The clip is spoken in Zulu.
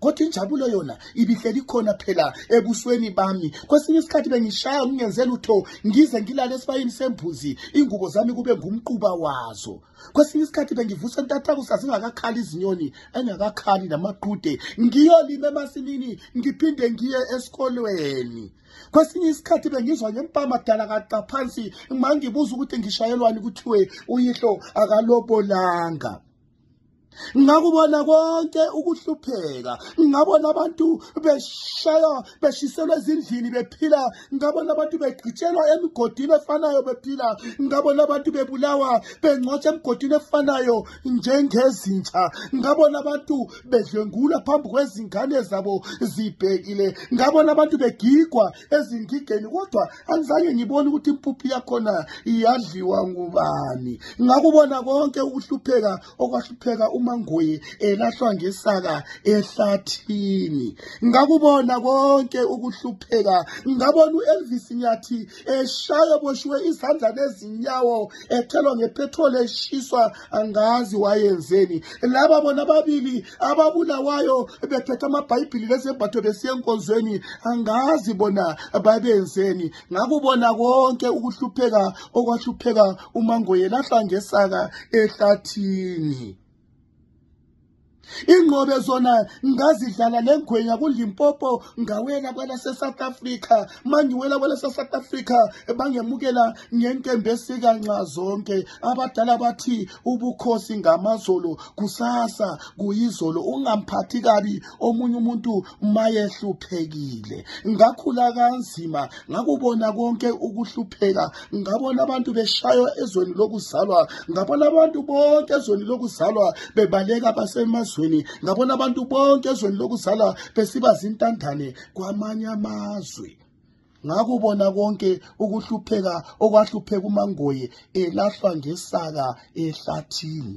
kodwa injabulo yona ibihleli khona phela ebusweni bami kwesinye isikhathi bengishaya ngingenze lutho ngize ngilale esibayini sembuzi ingubo zami kube ngumquba wazo kwesinye isikhathi bengivusa entathaku sazingakakhali izinyoni engakakhali namaqude ngiyolima emasimini ngiphinde ngiye esikolweni kwesinye isikhathi bengizwa ngempama dala kaqa phansi mangibuza ukuthi ngishayelwani kuthiwe uyihlo akalobolanga ngakubona konke ukuhlupheka ngabona abantu beshaywa beshiselwa ezindlini bephila ngabona abantu begqitshelwa emigodini efanayo bephila ngabona abantu bebulawa bengcwatsha emigodini efanayo njengezintsha ngabona abantu bedlwengula phambi kwezingane zabo zibhekile ngabona abantu begigwa ezingigeni kodwa angizange ngibone ukuthi impuphu yakhona iyadliwa ngubani ngakubona konke ukuhlupheka okwahlupheka umangoye elahlwa ngesaka ehlathini ngakubona konke ukuhlupheka ngabona u-elvis nyathi eshaya boshiwe izandla nezinyawo ethelwa ngepetroli eshiswa angazi wayenzeni laba bona ababili ababulawayo bethetha amabhayibhili lezembatho besiya enkonzweni angazi bona babenzeni ngakubona konke ukuhlupheka okwahlupheka umangoyela hlangesaka ehlathini ingqobe zona ngazidlala le ngwenya kulimpopo ngawela kwelase-south africa mangiwela kwelase-south africa bangemukela ngenkembe esikanxa zonke abadala bathi ubukhosi ngamazolo kusasa kuyizolo ungamphathi kabi omunye umuntu mayehluphekile ngakhula kanzima ngakubona konke ukuhlupheka ngabona abantu beshaywa ezweni lokuzalwa ngabona abantu bonke ezweni lokuzalwa bebaleka basemazweni ngabona abantu bonke ezweni lokuzalwa besiba zintandane kwamanye amazwe ngakubona konke ukuhlupheka okwahlupheka umangoye elahlwa ngesaka ehlathini